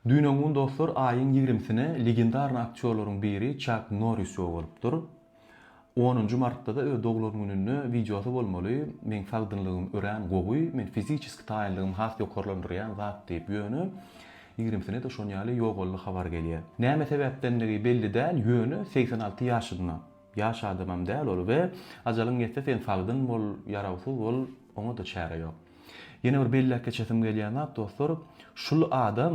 Düýn oňňun dostlar aýyň ýigrimisine legendarny aktýorlaryň biri Çak Norris ýok bolupdyr. Onunjy martda-da öz doglan gününde wideosy bolmaly, Meň sagdynlygym örän gowy, men fiziçeski taýynlygymy has ýokarlandyrýan zat diýip, ýöne ýigrimisine-de şonýaly ýogaldy habar gelýär. Näme sebäpdendigi belli däl, ýöne segsen alty ýaşynda. Ýaş adamam däl ol we ajalyň ýetse sen sagdyn bol, ýarawsyz bol, oňa-da çäre ýok. Ýene bir belläp geçesim gelýän zat, dostlar, şul adam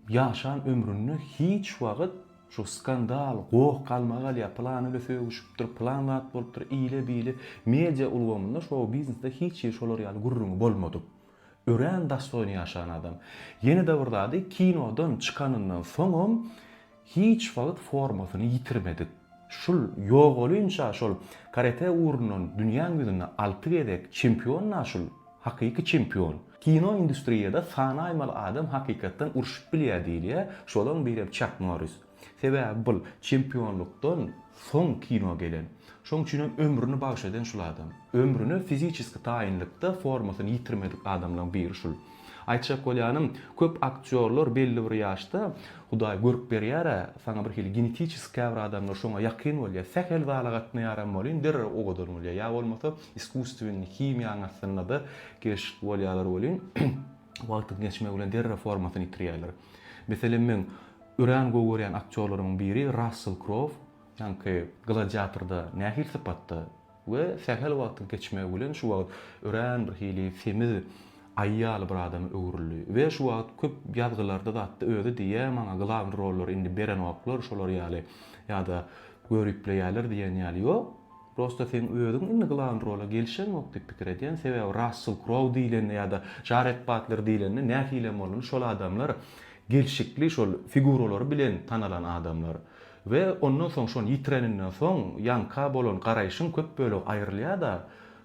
ýaşan ömründe hiç wagt şu skandal, goh, galmagal ýa pylan ile sögüşipdir, pylan zat bolupdyr, ile-bile, media ulgamynda, şou-biznesde hiç hili şolar ýaly gürrüňi bolmadyk. Örän dostoýny ýaşan adam. Ýene-de bir zady kinodan çykanyndan soňam hiç wagt formasyny ýitirmedik. Şul ýogalynça şol karate ugrundan dünýäň ýüzünde alty gezek çempion-a şul, hakyky çempion. Kino industriýada sanaýmaly adam hakykatdan urşup bilýär diýilýär, şolaň birem Çak Norris. Sebäbi bul çempionlukdan soň kino gelen. Şoň üçinem ömrüni bagyş eden şul adam. Ömrüne fiziçeski taýynlykda formasyny ýitirmedik adamlaň biri şul. Aýtjak bolýanym, köp aktýorlar belli bir ýaşda Hudaý görüp berýär-ä, saňa bir hili genetiçeski käbir adamlar şoňa ýakyn bolýar. Sähel zala gatnaýaram welin derrew owadan bolýar. Ýa bolmasa iskussweniň, himiýaň astynda-da gelşikli bolýarlar welin. Wagtyň geçmegi bilen derrew formasyny ýitirýärler. Meselem, meň örän gowy görýän aktýorlarymyň biri Rassel Krow, ýaňky Gladiatorda nähili sypatda we sähel wagtyň geçmegi bilen şu wagt örän bir hili semiz aýy ýaly bir adama öwrüldi we şu wagt köp ýazgylarda zatda özi diýýär, maňa glawny rollary indi berenoklar, şolar ýaly ýa-da göripleýärler diýen ýaly ýok. Prosta seň özüň indi glawn rola gelişeňok diýip pikir edýän, sebäbi Rassel Krouw diýlende ýa-da Jared Batler diýlende nähilem bolsun şol adamlar gelşikli şol figuralary bilen tanalan adamlar we ondan soň şony ýitireninden soň ýaňka bolan garaýşyň köp bölegi aýrylýada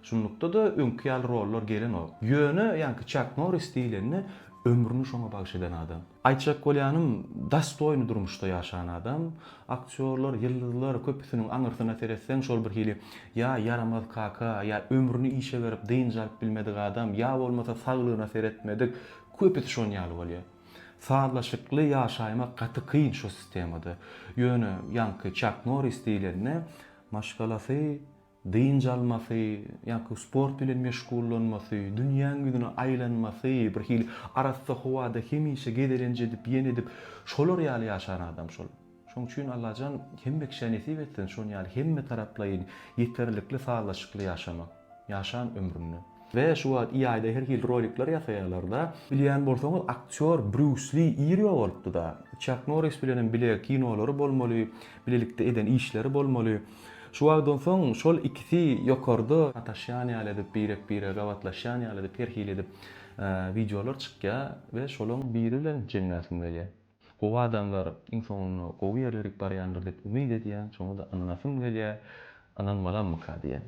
şunlukda-da öňki ýaly rollar gelenok ýöne ýaňky Çak Norris diýlende ömrüni şoňa bagyş eden adam. Aýtjak bolýanym, dostoýny durmuşda ýaşan adam, aktýorlar, ýyldyzlar, köpüsiniň aňyrsyna seretseň şol bir hili ýa ýaramaz kaka, ýa ömrüni işe berip dynç alyp bilmedik adam, ýa bolmasa saglygyna seretmedik, köpüsi şon ýaly bolýar. Sazlaşykly ýaşaýmak gaty kyn şo sistemada. Ýöne ýaňky Çak Norris diýlende maşgalasy dynç almasy, ýa-ki sport bilen meşgullanmasy, dünýäň ýüzüne aýlanmasy, bir hili arassa howada hemişe gezelenç edip, ýene edip, şolar ýaly ýaşan adam şol. Şoň üçin Allajan hemme kişä nesip etsin şon ýaly hemmetaraplaýyn, ýeterlikli sazlaşykly ýaşamak, ýaşan ömründe. We şu wagt EA-da her hili rolikler ýasaýalarda. Bilýän bolsaňyz aktýor Brýus Li irýo bolupdyda. Çak Norris bilenem bile kinolary bolmaly, bilelikde eden işleri bolmaly. Şu wagtdan soň şol ikisi ýokarda sataşýan ýaly edip birek bire gabatlaşýan ýaly edip her hili edip wideolar çykýa we şolaň biri bilen jemläsim gelýär. Gowy adamlar iň soňunda gowy ýerlere gidip barýandyr diýip umyt edýän şoňada ynanasym gelýär, ynanmalammyka diýen.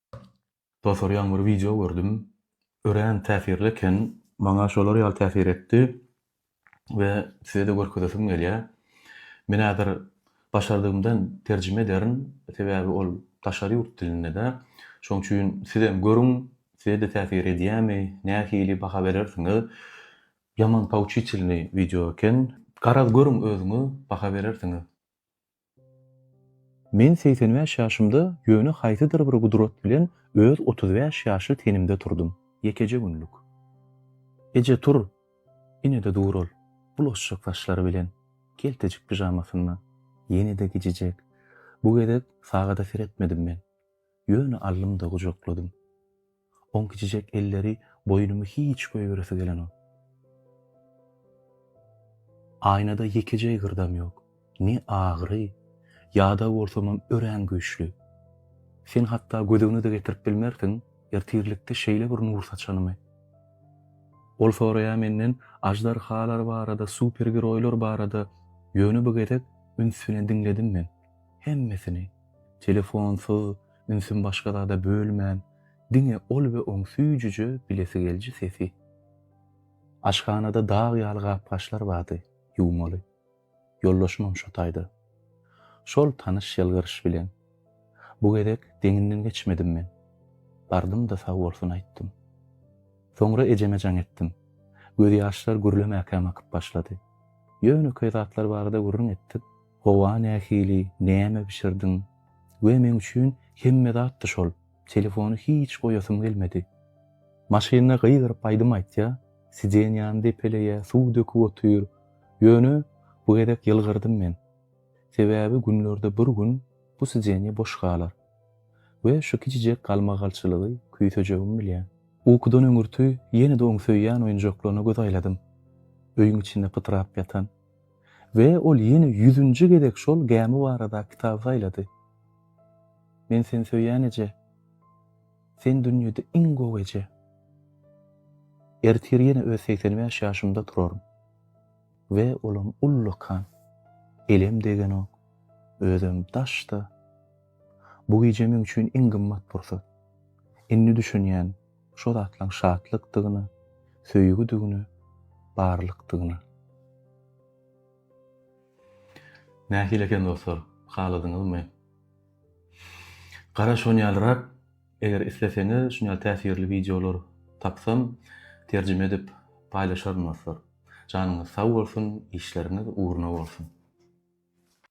Dostlar ýaňy bir wideo gördüm. Örän täsirli eken. Maňa şolar ýaly täsir etdi we size-de görkezesim gelýär. Men häzir başardygymdan terjime ederin, sebäbi ol daşary ýurt dilinde-de. Şoň üçin sizem görüň, size-de täsir edýärmi, nähili baha berersiňiz. Ýaman pouçitelnyý wideo eken. Garaz görüň özüňiz, baha berersiňiz. Men segsen bäş ýaşymda ýöne haýsydyr bir gudrat bilen öz otuz bäş ýaşly tenimde turdum. Ýekeje günlük. Eje tur! Ine-de dur ol, bulaşjak saçlary bilen, keltejik pižamasynda. Ýene-de gijijek. Bu gezek sagada seretmedim men. Ýöne aldym-da gujakladym. Oň kiçijek elleri boýnumy hiç goýberesi gelenok. Aýnada ýekeje ýygyrdam ýok. Ne agyry, ýadaw bolsamam örän güýçli. Sen hatda gözüňi-de getirip bilmersiň, ertirlikde şeýle bir nur saçanymy. Ol soraýar menden aždarhalar barada, supergeroýlar barada, ýöne bu gezek üns bilen diňledim men. Hemmesini. Telefonsyz. Ünsüm başga zada bölmän, diňe ol we oň süýjüje bilesi gelji sesi. Aşhanada dag ýaly gap-gaçlar bardy, ýuwmaly. Ýoldaşymam şo taýda. Şol tanyş ýylgyryş bilen. Bu gezek deňinden geçmedim men. Bardym-da sag bolsun aýtdym. Soňra ejeme jaň etdim. Gözýaşlar gürlemäkäm akyp başlady. Ýönekeý zatlar barada gürrüň etdik. Howa nähili, näme bişirdiň? We meň üçin hemme zatdy şol. Telefony hiç goýasym gelmedi. Maşynda gygyryp aýdym aýtýar, sidenýany depeleýär, suw döküp otyr. Ýöne bu gezek ýylgyrdym men. Sebäbi günlerde bir gün bu sidenýe boş galar. We şu kiçijek galmagalçylygy küýsejegimi bilýän. Ukudan öňürti ýene-de oň söýýän oýunjaklaryna göz aýladym. Öýüň içinde pytrap ýatan, We ol ýene ýüzünji gezek şol gämi barada kitaby saýlady. Men seni söýýän eje. Sen dünýede iň gowy eje. Ertir ýene öz segsen bäş ýaşymda turaryn. We olam ullakan. Elem degenok. Özem daşda. Bu gije meň üçin iň gymmat pursat. Indi düşünýän. Şo zatlaň şatlykdygyna, söýgüdigine, barlykdygyna. Nähili eken dostlar, haladyňyzmy? Gara şon ýalyrak, eger isleseňiz şun ýaly täsirli wideolar tapsam terjime edip paýlaşaryn dostlar. Janyňyz sag bolsun, işleriňiz ugruna bolsun.